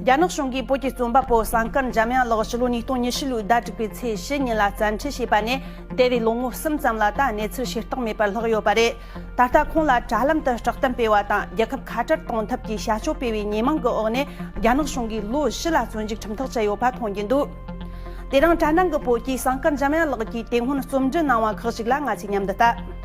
རྒྱ་ནག་གཞུང་གིས་བོད་ཀྱི་རྩོམ་པ་པོ་ཟངས་དཀར་འཇམ་དབྱངས་ལགས་ཕྱི་ལོ་ཉིས་སྟོང་ཉེར་བཞི་ལོའི་ཟླ་དྲུག་པའི་ཚེས་བཞི་ཉིན་ལ་བཙན་ཁྲིད་བྱས་པ་ནས་འདས་པའི་ལོ་ངོ་གསུམ་ཙམ་ལ་ད་གནས་ཚུལ་ཤེས་རྟོགས་མེད་པར་ལྷག་ཡོད་པ་རེད། ད་ལྟ་ཁོང་ལ་དྲ་ལམ་དུ་བསྒྲགས་གཏམ་སྤེལ་བ་དང་རྒྱལ་ཁབ་ཁ་བྲལ་གཏོང་ཐབས་ཀྱི་བྱ་སྤྱོད་སྤེལ་བའི་ཉེས་མང་གི་འོག་ནས་རྒྱ་ནག་གཞུང་གིས་ལོ་བཞི་ལ་བཙོན་འཇུག་ཁྲིམས་ཐག་བཅད་ཡོད་པ་མཐོང་རྒྱུ་འདུག། དེ་རིང་གྲ་ནང་གི་བོད་སྐྱིད་ཟངས་དཀར་འཇམ་དབྱངས་ལགས་ཀྱིས་དེ་སྔོན་རྩོམ་འབྲི་གནང་བ་ཁག་ཅིག་ལ་ང་ཚོས་མཉམ་དུ་ལྟ།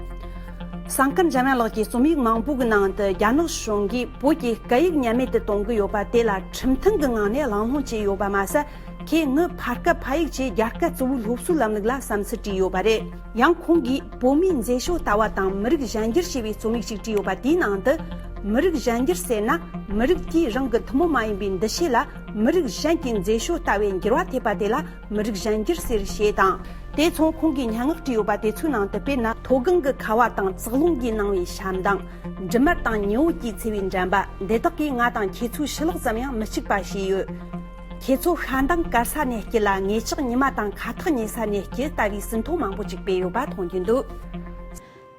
ཟངས་དཀར་འཇམ་དབྱངས་ལགས་ཀྱི་རྩོམ་ཡིག་མང་པོ་གི་ནང་དུ་རྒྱ་ནག་གཞུང་གིས་བོད་ཀྱི་སྐད་ཡིག་ཉམས་མེད་དུ་གཏོང་གི་ཡོད་པ་དེ་ལ་ཁྲིམས་མཐུན་གྱི་ངང་ནས་ལང་ལྷོང་བྱས་ཡོད་པ་མ་ཟད་ཁེ་ངོས་ཕར་སྐད་ཕ་ཡིག་བཅས་རྒྱ་སྐད་གཙོ་བོའི་སློབ་གསོའི་ལམ་ལུགས་ལ་བསམ་ཚུལ་བྲིས་ཡོད་པ་རེད། ཡང་ཁོང་གིས་བོད་མིའི་མཛེས་ཤོས་ལྟ་བ་དང་མི་རིགས་གཞན་འགྱུར་ཞེས་པའི་རྩོམ་ཡིག་ཅིག་བྲིས་ཡོད་པ་དེའི་ནང་དུ། མི་རིགས་གཞན་འགྱུར་ཟེར་ན་མི་རིགས་དེའི་རང་གི་ཐུན་མོང་མ་ཡིན་པའི་འདུ་ཤེས་ལ། མི་རིགས་གཞན་གྱི་མཛེས་ཤོས་ལྟ་བའི་འགྱུར་བ་ཐེབས་པ་དེ་ལ་མི་རིགས་གཞན་འགྱུར་ཟེར་ཞེས་དང། དེ་མཚུངས་ཁོང་གིས་སྙན་ངག་བྲིས་ཡོད་པ་དེ་ཚོའི་ནང་དུ་དཔེར་ན་མཐོ་སྒང་གི་ཁ་བ་དང་ཙག་རླུང་གིས་སྣང་བའི་ཞབས་འདང། འབྲི་མར་དང་ཉི་འོད་ཀྱིས་འཚེར་བའི་འགྲན་པ་འདི་དག་གིས་ང་དང་ཁྱེད་ཚོའི་ཕྱི་ལོགས་ཙམ་ཡང་མི་གཅིག་པ་བྱས་ཡོད། ཁྱེད་ཚོ་ཤ་མདངས་དཀར་ས་ནས་སྐྱི་ལ་ངེད་ཅག་ཉི་མ་དང་ཁ་ཐག་ཉེ་ས་ནས་སྐྱི་ལྟ་བུའི་ཟིན་ཐོ་མང་པོ་ཅིག་སྤེལ་ཡོད་པ་མཐོང་རྒྱུ་འདུག།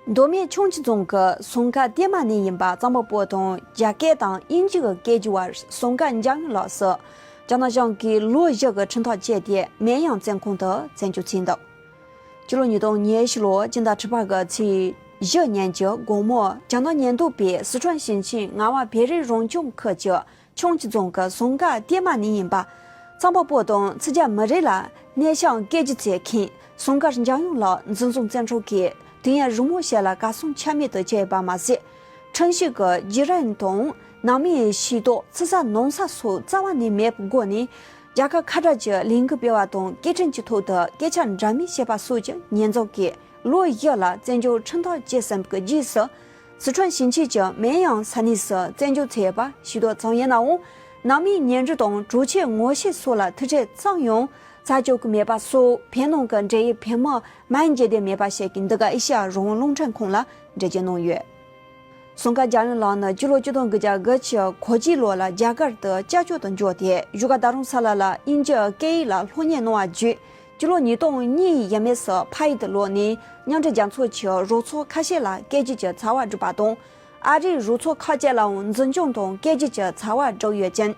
མདོ་སྨད་ཆུང་བྱི་རྫོང་གི་ཟོང་ཁ་བརྟན་མ་ནས་ཡིན་པ་གཙང་པོ་པོ་དང་རྒྱ་སྐད་དང་དབྱིན་ཇི་གི་སྐད་ཀྱི་བར་ཟོང་ཁ་འཇགས་ཡོང་ལགས་སོ། རྒྱ་ནག་གཞུང་གིས་ལོ་བཞི་གི་ཁྲིམས་ཐག་བཅད་དེ་མེན་ཡང་བཙན་ཁང་དུ་བཙན་བྱོལ་བྱས་འདུག་སྤྱི་ལོ་ཉིས་སྟོང་ཉེར་བཞི་ལོར་སྤྱི་ཟླ་ཁྲི་པ་གི་ཚེས་བཞི་ཉིན་གྱི་དགོང་མོར་རྒྱ་ནག་ཉེན་རྟོག་པས་སི་ཁྲོན་ཞིང་ཆེན་རྔ་བ་བེ་རི་རང་སྐྱོང་ཁུལ་གྱི་ཆུང་བྱི་རྫོང་གི་ཟུང་དཀར་སྐྱེས་མ་ནི་ཡིན་པ། ཚངས་པ་སྤོ་དང་ཚི་རྒྱ་མི་རེ་ལ་གནས་ཤང་སྐད་ཀྱི་ཚེ་མཁན་ཟུང་དཀར་འཇང་ཡོངས་ལགས་འཛིན་བཟུང་བཙན་འཕྲོག་གིས་དུས་ཡུན་རིང་མོ་ཞིག་ལ་བཀའ་སྲུང་ཆ་མེད་དུ་བྱས་པ་མ་ཟད། ཁྲིམས་ཞིབ་ཀྱི་བརྗེ་རེན་དང་ནང་མིའི་ཤེས་རྟོགས་ཚི་ས་ནང་ས་སོགས་རྩ་བ་ནས་མེད་པའི་སྒོ་ནས། རྒྱ་གར་ཁ་བྲལ་གྱི་ལས་འགུལ་སྤེལ་བ་དང་སྐད་འཕྲིན་གྱི་ཐོག་ཏུ་སྐད་ཆ་འདྲ་མིན་བཤད་པ་སོགས་ཀྱི་ཉེས་འཛུགས་ཀྱིས་ལོ་བཞི་ལ་བཙན་བྱོལ་ཁྲིམས་ཐག་བཅད་ཟིན་པའི་རྗེས་སུ། སི་ཁྲོན་ཞིང་ཆེན་གྱི་མེན་དབྱང་ས་གནས་སུ་བཙན་བྱོལ་ཚོས་པ་ཞིག་ཏུ་བཙོང་ཡས་ནའོ། ནང་མིའི་ཉེན་འབྲེལ་དང་གྲོས་ཆོད་ངོ་ཤེས་སོགས་ལ་ཐུགས་ཁྲལ་ཙམ་ཡང་བྱ་ཆོག་གི་མེད་པ་སོགས་བོད་ནང་གི་འབྲེལ་ཡོད་བོད་དམག་མང་མཇལ་དད་མེད་པ་ཞིག་གིས་འདི་ག་ཨེ་ཤི་ཡ་རང་དབང་རླུང་འཕྲིན་ཁང་ལ་འགྲེལ་བརྗོད་གནང་ཡོད། ཟུང་ཁ་རྒྱ་རོན་ལགས་ནི་སྤྱི་ལོ་བཅུ་དང་དགུ་བརྒྱ་དགུ་ཕྱི་གོ་གཅིག་ལོ་ལ་རྒྱ་གར་དུ་བཅའ་བཅོ་དུ་འབྱོར་ཏེ་བཞུགས་སྒར་རྡ་རམ་ས་ལ་ལ་དབྱིན་ཇི་སྐད་ཡིག་ལ་ལྷོ་གཉེར་གནང་བ་བརྒྱུད་སྤྱི་ལོ་ཉིས་སྟོང་གཉིས་ཡས་མས་སུ་བྷ་ཡི་ཏི་ལོ་ནས་མཉམ་འབྲེལ་རྒྱལ་ཚོགས་ཀྱི་རུ་ཚོགས་ཁ་ཤས་ལ་སྐད་གཅིག་གྱི་ཚ་བ་སྒྲུབ་པ་དང། ཨ་རིའི་རུ་ཚོགས་ཁག་བཅས་ལའང་འཛིན་སྐྱོང་དང་སྐད་གཅིག་གྱི་ཚ་བ་སྒྲོག་ཡོད་ཅིང།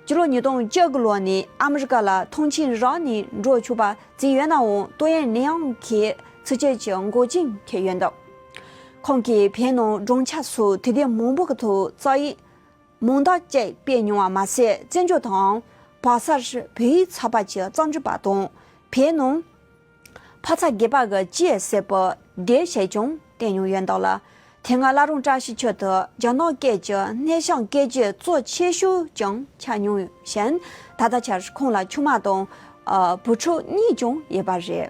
སྤྱི་ལོ་ཉིས་སྟོང་བཅུ་དགུ་ལོ་ནས་ཨ་མི་རི་ཀ་ལ་མཐོང་ཆེན་རང་ནས་འགྲོ་ཆོག་པ་བརྩིས་ཡོད་ནའང་ཏུའུ་ཡན་ནེ་ཨང་གིས་ཚིག་བཅད་ཀྱི་མགོ་ཅིང་འཁེལ་ཡོད་འདུག་ཁོང་གིས་བོད་ནང་སྦྲང་ཆགས་སོགས་དུས་བདེ་མང་པོ་གི་ཐོག་བཙག་ཡིག་མུང་རྟགས་བཅས་སྤེལ་མྱོང་བ་མ་ཟད་བཙན་བྱོལ་དང། བག་གསར། བོད་ཡིག་ཚགས་པར་གྱི་གཙང་ཆུ་པགས་དང། བལ་ནང། ཕ་ཚ་རྒྱལ་པགས་ཀྱི་ཅི་ཡས་སེར་པོ་འདེད་བྱས་ཀྱང་བསྟན་མྱོང་ཡོད་འདུག་ལ། དེ་སྔ་བླ་རུང་བཀྲ་ཤིས་ཆོས་དུ་རྒྱ་ནག་སྐད་ཀྱི་སྣེ་ཤང་སྐད་རྗེས་གཙོ་ཆེ་ཤོས་ཀྱང་ཆགས་མྱོང་ཞིང། ད་ལྟ་ཆར་ཁོང་ལ་ཆུང་མ་དང། བུ་ཕྲུག་གཉིས་ཀྱང་ཡོད་པ་རེད།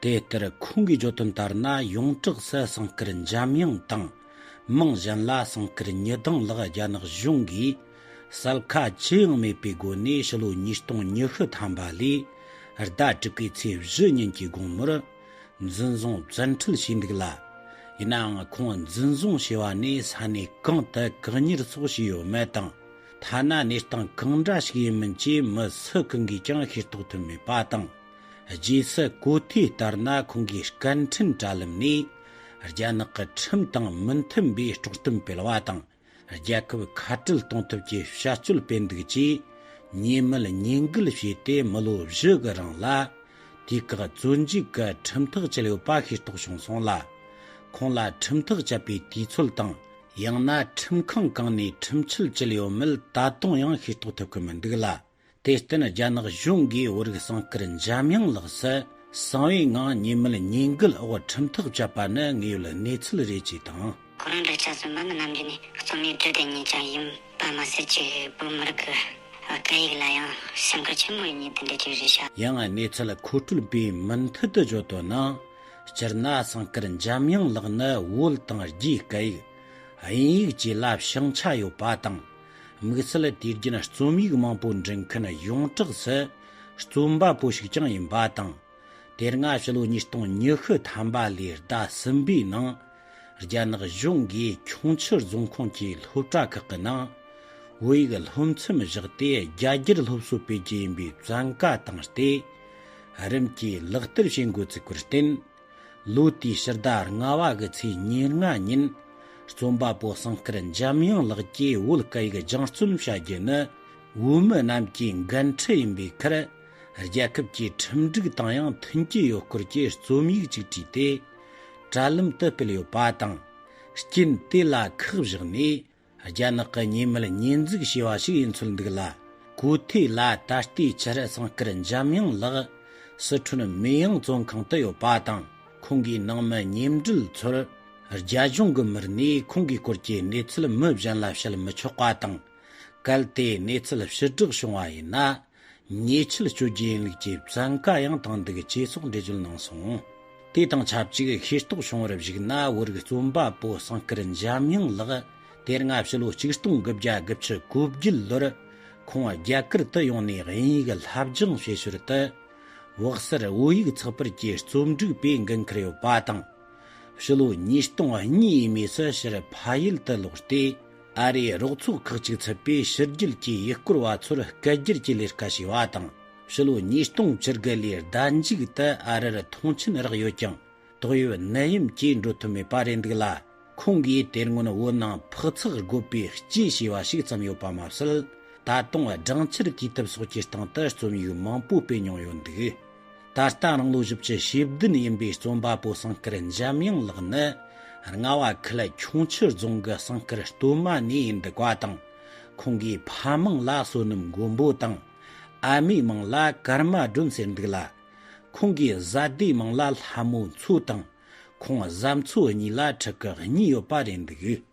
དེ་ལྟར་ཁོང་གིས་བརྗོད་དོན་ལྟར་ན་ཡོངས་གྲགས་སུ་གསང་སྐུར་འཇམ་དབྱངས་དང། རྨང་གཞན་ལ་གསང་སྐུར་ཉི་གདངས་ལགས་རྒྱ་ནག་གཞུང་གིས་གསལ་ཁ་ཅི་ཡང་མེད་པའི་སྒོ་ནས་ཕྱི་ལོ་ཉིས་སྟོང་ཉི་ཤུ་ཐམ་པ་ལོའི་ཟླ་དྲུག་པའི་ཚེས་བཞི་ཉིན་གྱི་དགོང་མོར་འཛིན་བཟུང་བཙན་འཁྲིད་བྱས་འདུག་ལ། ཡིན་ནའང་ཁོང་འཛིན་བཟུང་བྱས་པ་ནས་ས་གནས་གང་དུ་བཀག་ཉར་སོགས་བྱས་ཡོད་མེད་དང། ཐ་ན་གནས་སྟངས་གང་འདྲ་ཞིག་ཡིན་མིན་བཅས་མི་སུ་གང་གིས་ཀྱང་ཤེས་རྟོགས་ཐུབ་མེད་པ་དང། རྗེས་སུ་གོ་ཐོས་ལྟར་ན་ཁོང་གིས་སྐད་འཕྲིན་དྲ་ལམ་ནས་རྒྱ་ནག་གི་ཁྲིམས་དང་མི་མཐུན་པའི་དཀྲོག་གཏམ་སྤེལ་བ་དང་རྒྱལ་ཁབ་ཁ་བྲལ་གཏོང་ཐབས་ཀྱི་བྱ་སྤྱོད་སྤེལ་འདུག་ཅེས་ཉེས་མེད་ཉེས་འགུལ་བྱས་ཏེ་མི་ལོ་བཞི་གི་རིང་ལ་དུས་བཀག་བཙོན་འཇུག་གི་ཁྲིམས་ཐག་བཅད་ཡོད་པ་ཤེས་རྟོགས་བྱུང་སོང་ལ། ཁོང་ལ་ཁྲིམས་ཐག་བཅད་པའི་དུས་ཚོད་དང། ཡང་ན་ཁྲིམས་ཁང་གང་ནས་ཁྲིམས་ཆད་བཅད་ཡོད་མེད་ད་དུང་ཡང་ཤེས་རྟོགས་ཐུབ་ཀྱི་མི་འདུག་ལ། དེ་བརྟེན་རྒྱ་ནག་གཞུང་གིས་བོད་རིགས་གསང་སྐུར་འཇམ་དབྱངས་ལགས་སུ་གསང་བའི་ངང་ཉེས་མེད་ཉེས་འགུལ་འོག་ཁྲིམས་ཐག་བཅད་པ་ནི་དངོས་ཡོད་གནས་ཚུལ་རེད་ཅེས་དང། ཁོ་རང་འདྲ་ཆགས་སུ་འབུམ་རྣམ་རྒྱལ་ནི་རྩོམ་ཡིག་འབྲི་བདེ་ཉིད་ཅང་ཡིན་པ་མ་ཟད་གཅིག་བོད་མི་རིགས་ཀྱི་སྐད་ཡིག་ལ་ཡང་སེམས་ཁུར་ཆེན་མོ་ཡོད་ཉིད་དེ་འདྲའི་ཆོས་རེད་ཤག། ཡང་གནས་ཚུལ་མཁོ་སྤྲོད་པས་མུ་མཐུད་དུ་བརྗོད་དོན་ནི། སྤྱིར་ན་གསང་སྐུར་འཇམ་དབྱངས་ལགས་ནི་བོད་དང་རྒྱའི་སྐད་ཡིག། དབྱིན་ཡིག་བཅས་བསླབས་ཤིང་ཆ་ཡོད་པ་དང། དམིགས་བསལ་དུས་རྒྱུན་རྩོམ་ཡིག་མང་པོ་འབྲི་མཁན་ཡོངས་གྲགས་སུ་རྩོམ་པ་པོ་ཞིག་ཀྱང་ཡིན་པ་དང། དེ་སྔ་ཕྱི་ལོ་ཉིས་སྟོང་ཉི་ཤུ་ཐམ་པ་ལོའི་ཟླ་གསུམ་པའི་ནང། རྒྱ་ནག་གཞུང་གིས་ཁྱུང་ཆུ་རྫོང་ཁོངས་ཀྱི་སློབ་གྲྭ་ཁག་གི་ནང། བོད་ཡིག་སློབ་ཚན་བཞག་སྟེ་རྒྱ་སྒྱུར་སློབ་གསོ་སྤེལ་རྒྱུ་ཡིན་པའི་བཙན་བཀའ་བཏང་སྟེ། རིམ་གྱིས་ལག་བསྟར་བྱེད་འགོ་བཙུགས་པར་བརྟེན། ལོ་དེའི་ཕྱི་ཟླ་ལྔ་བ་གི་ཚེས་ཉེར་ལྔ་ཉིན། རྩོམ་པ་པོ་ཟངས་དཀར་འཇམ་དབྱངས་ལགས་ཀྱིས་བོད་སྐད་ཡིག་སྦྱང་རྩོམ་བྱ་རྒྱུ་ནི། བོད་མི་རྣམས་ཀྱི་འགན་འཁྲི་ཡིན་པའི་ཁར། རྒྱལ་ཁབ་ཀྱི་ཁྲིམས་སྒྲིག་དང་ཡང་མཐུན་གྱི་ཡོད་སྐོར་གྱི་རྩོམ་ཡིག་ཅིག་བྲིས་ཏེ། དྲ་ལམ་དུ་སྤེལ་ཡོད་པ་དང། རྐྱེན་དེ་ལ་ཁག་བཞག་ནས། རྒྱ་ནག་གི་ཉེས་མེད་ཉེས་འཛུགས་བྱས་པ་ཞིག་ཡིན་ཚོད་འདུག་ལ། གོ་ཐོས་ལ་ད་ལྟའི་ཆར་བསང་དཀར་འཇམ་དབྱངས་ལགས། སི་ཁྲོན་མེ་དབྱིངས་བཙོན་ཁང་དུ་ཡོད་པ་དང་ཁོང་གི་ནང་མི་ཉེ་འབྲེལ་ཚོར། རྒྱ་གཞུང་གི་མིར་ནས་ཁོང་གི་སྐོར་གྱི་གནས་ཚུལ་མི་གཞན་ལ་བཤད་མི་ཆོག་པ་དང། གལ་ཏེ་གནས་ཚུལ་ཕྱིར་བསྒྲགས་བྱུང་བ་ཡིན་ན། ཉེས་ཆད་གཅོད་རྒྱུ་ཡིན་ལུགས་ཀྱི་བཙན་བཀའ་ཡང་བཏང་འདུག་ཅེས་སོགས་འགྲེལ་བརྗོད་གནང་སོང། དེ་དང་ཆབས་ཅིག་ཤེས་རྟོགས་བྱུང་བར་གཞིགས་ན་བོད་རིགས་རྩོམ་པ་པོ་ཟངས་དཀར་འཇམ་དབྱངས་ལགས་དེར་སྔ་ཕྱི་ལོ་གཅིག་སྟོང་དགུ་བརྒྱ་དགུ་ཕྱི་དགུ་བརྒྱད་ལོར་ཁོང་རྒྱ་གར་དུ་ཡོང་ནས་དབྱིན་ཡིག་སླབ་སྦྱང་བྱེད་ཞོར་དུ། འོག་སར་བོད་ཡིག་ཚགས་པར་གྱི་རྩོམ་སྒྲིག་པའི་འགན་ཁུར་ཡོད་པ་དང། ཕྱི་ལོ་ཉིས་སྟོང་གཉིས་ཡས་མས་སུ་ཕྱིར་ཕ་ཡུལ་དུ་ལོག་སྟེ་ཨ་རིའི་རོགས་ཚོགས་ཁག་ཅིག་ཚུད་པའི་ཕྱི་རྒྱལ་གྱི་ཡུལ་སྐོར་བ་ཚོར་སྐད་སྒྱུར་གྱི་ལས་ཀ་བྱས་པ་དང་ཕྱི་ལོ་ཉིས་སྟོང་བཅུ་དགུ་ལོའི་ཟླ་མཇུག་ཏུ་ཨ་རིར་མཐོང་ཆེན་རག་ཡོད་ཀྱང་དོགས་ཡོད་ནད་ཡམས་ཀྱིས་འགྲོ་ཐུབ་མེད་པ་རེད་འདུག་ལ། ཁོང་གིས་དེ་སྔོན་བོད་ནང་ཕག་ཚགས་རྒོད་པའི་སྐྱེས་བྱས་པ་ཞིག་བརྩམས་ཡོད་པ་མ་ཟད། ད་དུང་སྦྲང་ཆར་གྱི་ཐབས་སོགས་ཀྱི་སྟེང་དུ་རྩོམ་ཡིག་མང་པོ་སྤེལ་མྱོང་ཡོད་འདུག། ད་ལྟ་རང་ལོ་བཞི་བཅུ་ཞེ་བདུན་ཡིན་པའི་རྩོམ་པ་པོ་ཟངས་དཀར་འཇམ་དབྱངས་ལགས་ནི། རྔ་བ་ཁུལ་ཁྱུང་ཆུ་རྫོང་གི་ཟངས་དཀར་སྟོད་མ་ནས་འདུག་པ་དང། ཁོང་གིས་ཕ་མང་ལ་བསོད་ནམས་མགོན་པོ་དང། ཨ་མའི་མིང་ལ་ཀརྨ་སྒྲོན་ཟེར་འདུག་ལ། ཁོང་གི་བཟའ་ཟླའི་མིང་ལ་ལྷ་མོ་མཚོ་དང། ཁོང་བཟའ་མཚོ་གཉིས་ལ་ཕྲུ་གུ་གཉིས་ཡོད་པ་རེད་འདུག།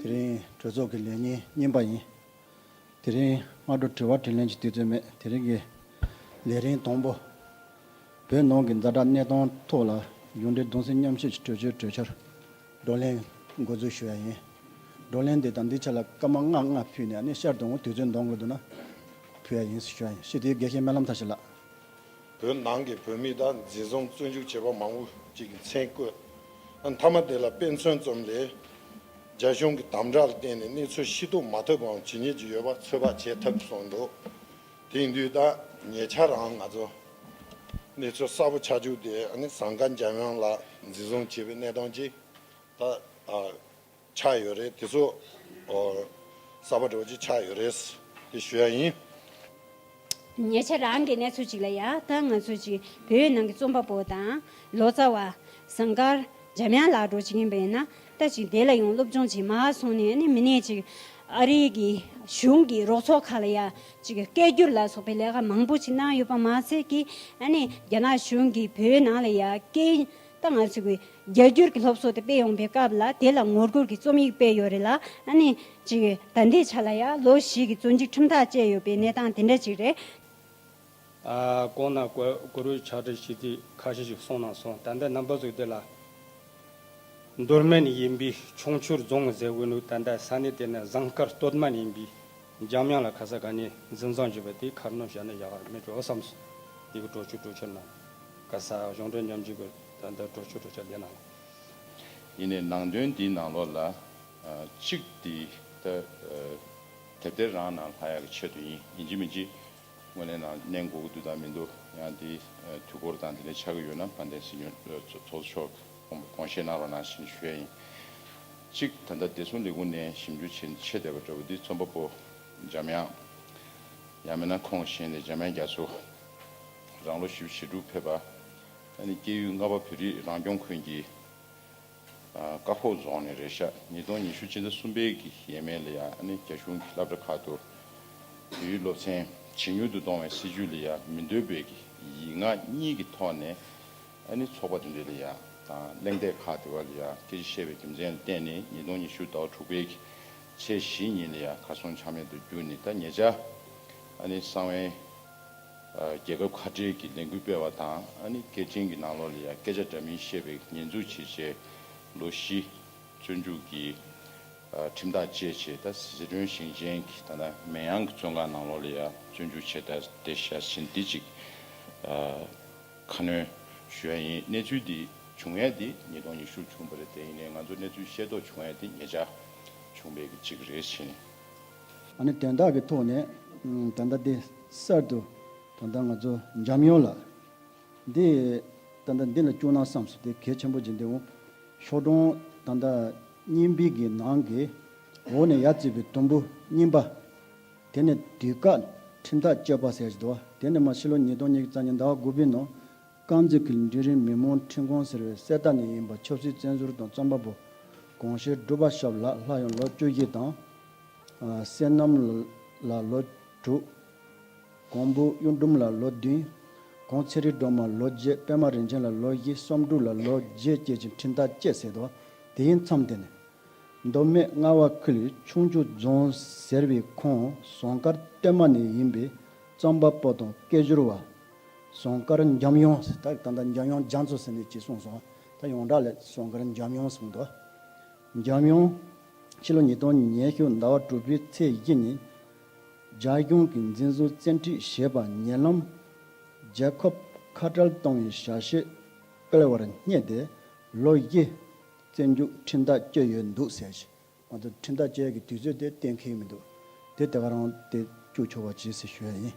དེ་རིང་གྲོས་ཚོགས་ཀྱི་ལས་ཉིན་གཉིས་པ་ཡིན། དེ་རིང་སྔ་དྲོ་དྲི་བ་དྲིས་ལན་གྱི་དུས་ཚོད་མེད་དེ་རིང་གི་ལས་རིམ་དང་པོ། བོད་ནང་གི་འཛའ་དྲག་གནས་སྟངས་ཐོག་ལ་གཞུང་འབྲེལ་གདུང་སེམས་མཉམ་བསྐྱེད་ཀྱི་གྲོས་ཆོད་གྲོས་འཆར་བགྲོ་གླེང་འགོ་འཛུགས་ཞུ་ཡ་ཡིན། བགྲོ་གླེང་དེ་དང་དེའི་ཆ་ལ་སྐར་མ་ལྔ་ལྔ་ཕུལ་ནས་ནི་ཤར་དུ་འོང་དུས་ཚོད་འདང་དགོས་འདུག་ན་ཕུལ་ཡ་ཡིན་ཞུ་ཡ་ཡིན་ཤི་དེའི་དགེ་བཤེས་སྨོན་ལམ་མཐར་ཕྱིན་ལགས། བོད་ནང་གི་བོད་མི་དང་འཛིན་བཟུང་བཙོན་འཇུག་བྱས་པ་མང་བོ་ཅིག་གི་མཚན་བཀོད། མཐའ་མ་དེ་ལ་དཔེ་མཚོན་ཙམ་ལས། རྒྱ་གཞུང་གི་དམ་བསྒྲགས་ལ་བརྟེན་ནས་གནས་ཚུལ་ཤེས་རྟོགས་མ་ཐུབ་པའང་ཇི་སྙེད་ཅིག་ཡོད་པ་ཚོད་དཔག་བྱེད་ཐབས་སུ་འདུག་དེང་དུས་ད་ཉེ་ཆར་འང་ང་ཚོ་གནས་ཚུལ་གསལ་པོ་ཆགས་བཅུག་སྟེ་ཟངས་དཀར་འཇམ་དབྱངས་ལགས་འཛིན་བཟུང་བྱས་པའི་གནས་སྟངས་ཅིག་ད། ཆགས་ཡོད་རེད་དེ་ཚོ། གསར་པ་འགྲོ་ཅི་ཆགས་ཡོད་རེད། དེ་ཞུ་ཡག་ཡིན། ཉེ་ཆར་རང་གི་གནས་ཚུལ་ཅིག་ལ་ཡག་ཐང་ང་ཚོ་ཅིག་བོད་ཡིག་ནང་གི་རྩོམ་པ་པོ་དང། ལོ་ཙཱ་བ། ཟངས་དཀར། འཇམ་དབྱངས་ལགས་འགྲོ་ཅི་གིན་པའི་ན་ལྟ་ཅིག་དེ་ལ་ཡང་སློབ་སྦྱོང་བྱེད་མ་སོང་ནས་ནི་མི་ནས་ཅིག་ཨ་རིའི་གི་གཞུང་གི་རོགས་ཚོགས་ཁག་ལ་ཡག་ཅིག་སྐད་བསྒྱུར་ལ་སོགས་པའི་ལས་ཀ་མང་པོ་ཅིག་གནང་ཡོད་པ་མ་ཚད་ཀི་ཨ་ནི་རྒྱ་ནག་གཞུང་གི་བོད་ནང་ལ་ཡག་སྐད་ད་ང་ཚོས་རྒྱ་སྒྱུར་གྱི་སློབ་གསོ་དེ་སྤེལ་ཡོང་པའི་སྐབས་ལ་དེ་ལ་ངོ་རྒོལ་གྱི་རྩོམ་ཡིག་སྤེལ་ཡོད་རེད་ལ། ད་ལྟའི་ཆ་ལ་ཡང་ལོ་བཞི་གི་བཙོན་འཇུག་ཁྲིམས་ཐག་བཅད་ཡོད་པའི་གནས་སྟངས་དེ་འདྲ་ཅིག་རེད། གོང་ན་གུ་རུའི་ཕྱག་བྲིས་ཞེས་དུས་ཁ་ཤས་ཤིག་གསུངས་གནང་སོང་ད་ལྟ་ནམ་ཕ་གཟུགས་དེ་ལ་རྡོར་སྨན་ཡིན་པའི་ཕྱོགས་མཆོད་རྫོང་ཟེར་དགོས་འདུག་ད་ལྟ་ས་གནས་དེ་ན་ཟངས་དཀར་སྟོད་སྨད་ཡིན་པའི་འཇམ་དབྱངས་ལ་ཁ་ས་ག་ནས་འཛིན་བཟང་བྱོས་པ་དེའི་ཁར་ནོ་བཞག་ན་ཡག་ག་མེད་འགྲོ་བསམ་སོང་ཡི་གི་གྲོ་ཆུ་གྲོ་ཆུ་ནང། ཀ་ས་གཞུང་གྲོས་མཉམ་ཇུས་འགོད་དོན་དུ་གྲོས་ཆོད་གྲོས་འཆར་འདི་གནང་ལོ། ཡིན་ནས་ནང་དོན་འདི་ནང་ལོགས་ལ། གཅིག་འདི་ལྟ། དེབ་དེ་རང་ནང་ལྷ་ཡག་གི་ཆེད་དུ་ཡིན་ཡིན་གཅིག་མིན་གཅིག། དངོས་གནས་ནང་གནས་མགོ་གུ་འདུག་དང་མི་འདུག་ཡང་དེ་དུས་འཁོར་དང་དེ་ནས་ཆགས་ཀྱི་ཡོད་ན་དཔལ་ལྡན་སྲིད་སྐྱོང་ཚོགས་གཙོ་མཆོག་དགོངས་བཞེས་གནང་རོགས་གནང་བཞིན་ཞུས་ཡིན། གཅིག་ད་ལྟ་བདེ་སྲུང་ལས་ཁུངས་ནས་ཞིབ་འཇུག་བྱེད་ཆེད་བསྡད་པ་འདྲ་བོ་འདི་རྩོམ་པ་པོ་འཇམ་དབྱངས། ཡང་མིན་ན་ཁོང་གཞན་ལས་འཇམ་དབྱངས་རྒྱ་མཚོ། རང་ལོ་བཞི་བཅུ་ཞེ་དྲུག་ཕེབས་པ། སྐྱེས་ཡུལ་རྔ་པ་བོད་རིགས་རང་སྐྱོང་ཁུལ་གྱི་རྐ་ཁོག་རྫོང་ནས་རེས་གཞག་ཉིས་སྟོང་ཉི་ཤུ་སྤྱི་ཟླ་གསུམ་པའི་གི་ཡས་མས་ལ་ཡང་རྒྱ་གཞུང་གི་སླབ་གྲ་ཁག་ཏུ་བོད་ཡིག་སློབ་ཚན་ཇེ་ཉུང་དུ་གཏོང་བའི་སྲིད་ཇུས་ལ་ཡང་མི་འདོད་པའི་གི་ཡིག་ངག་གཉིས་ཀྱི་ཐོག་ནས་ཚོགས་པ་དེ་འདྲ་ལ་ཡང་དང་གླེང་སྟེགས་ཁག་དེ་བ་ལ་ཡང་སྐད་ཆ་བཤད་པའི་རྒྱུ་མཚན་ལ་བརྟེན་ནས་ཉིས་སྟོང་ཉི་ཤུ་ཟླ་བ་དྲུག་པའི་གི་ཚེས་བཞི་ཉིན་ལ་ཡང་གར་སོང་ཆ་མེད་དུ་གྱུར་ནས་ད་ངེད་ཅག་གསང་བའི། རྒྱལ་ཁབ་ཁ་བྲལ་གྱི་ལས་འགུལ་སྤེལ་བ་དང་ཨ་ནི་སྐད་འཕྲིན་གྱི་ནང་ལོགས་ལ་ཡང་སྐད་ཆ་འདྲ་མིན་བཤད་པའི་ཉེས་འཛུགས་བྱེད་ཆེད། ལོ་བཞི། བཙོན་འཇུག་གི། ཁྲིམས་ཐག་བཅད་ཆེད་ད་ཟི་ཁྲོན་ཞིང་ཆེན་གྱི་ད་ན་མེན་ཡང་གི་བཙོན་ཁང་ནང་ལོགས་ལ་ཡང་བཙོན་འཇུག་ཆེད་ད་ཏེ་བཞའ་ཟིན་ཏི་ཅིག། ཁ་སྣོན། ཞུ་ཡ་ཡིན་གནས་ཚུལ་འདི་བྱུང་ཡས་ཏེ་ཉིས་སྟོང་ཉི་ཤུར་བྱུང་བ་རེད་དེ་ཡིན་ནས་ང་ཚོ་གནས་ཚུལ་ཤེས་རྟོགས་བྱུང་ཡས་ཏེ་ཉེ་ཆར་བྱུང་བའི་གི་ཅིག་རེད་ཕྱིན། ཨ་ནི་དོན་དག་གི་ཐོག་ནས་ད་ལྟ་འདི་གསར་དུ་ད་ལྟ་ང་ཚོ་འཇམ་ཡོང་ལ། འདི་ད་ལྟ་འདི་ལ་སྐྱུག་ན་བསམས་སོ་དེ་གལ་ཆེན་པོ་ཇི་འདི་འོང། ཤོག་གྲོང་ད་ལྟ་རྙིང་པིག་གི་ནང་གི་འོག་ནས་ཡར་བརྩིས་པའི་དུམ་བུ་རྙིང་པ། དེ་ནི་དུས་བཀག་ཁྲིམས་ཐག་གཅོད་པ་ཟེར་གྱི་འདུག་བ་དེ་ནི་མ་ཕྱི་ལོ་ཉིས་སྟོང་ཉིས་བརྒྱ་རྩ་གཉིས་ཟླ་བ་དགུ་པའི་ནང་རྐང་རྩེད་ཀྱི་འབྲི་རིན་མི་མང་འཕྲིན་ཁང་ཟེར་བའི་གསེར་རྟ་ནས་ཡིན་པ་ཆབ་སྲིད་བཙན་ཟུར་དང་རྩོམ་པ་པོ་གོང་ཞེ་སྒྲུབ་པ་ཞབས་ལགས་ལྷ་ཡང་ལོ་བཅུ་བཞི་དང། བསེ་སྣམ་ལགས་ལོ་དྲུག། གོང་བུ་གཡུ་འབྲུམ་ལགས་ལོ་བདུན། གོང་ཚེ་རི་སྒྲོལ་མ་ལོ་བརྒྱད་པད་མ་རིན་ཆེན་ལགས་ལོ་བཞི་གསོམ་དྲུག་ལ་ལོ་བརྒྱད་བསྐྱེལ་གྱི་འཕྲིན་ཐག་བཅད་ཟེར་དོ་དེ་ཡིན་མཚམས་དེ་ནས། མདོ་སྨད་རྔ་བ་ཁུལ་ཆུང་ཆུ་རྫོང་ཟེར་བའི་ཁོངས་བཟང་དཀར་སྟོད་མ་ནས་ཡིན་པའི་རྩོམ་པ་པོ་དང་སྐད་བཞུར་བ་ཟོང་དཀར་འཇམ་དབྱངས། ད་ད་འཇམ་དབྱངས་རྒྱ་མཚོ་ཟེར་ནས་ཅིག་གསུངས་སོང། ད་ཡོངས་གྲགས་ལས་ཟོང་དཀར་འཇམ་དབྱངས་གསུངས་འདུག། འཇམ་དབྱངས། ཕྱི་ལོ་ཉིས་སྟོང་ཉེར་ཤུ་ཟླ་བ་དྲུག་པའི་ཚེས་བཞི་ཉིན། རྒྱ་གཞུང་གིས་འཛིན་བཟུང་བཙན་ཁྲིད་བྱས་པ་ཉེ་ལམ། རྒྱལ་ཁབ་ཁ་བྲལ་གཏོང་བའི་བྱ་བྱེད་སྤེལ་བར་བསྙད་དེ་ལོ་བཞི། བཙོན་འཇུག་ཁྲིམས་ཐག་བཅད་ཡོད་འདུག་ཟེར། ང་ཚོ་ཁྲིམས་ཐག་བཅད་ཀྱི་དུས་ཚོད་དེ་གཏན་འཁེལ་མི་འདུག་དེ་དེ་ག་རང་དེ་སྐྱུག་ཆོག་པ་བྱེད་སྲིད་ཞོད་ཡིན།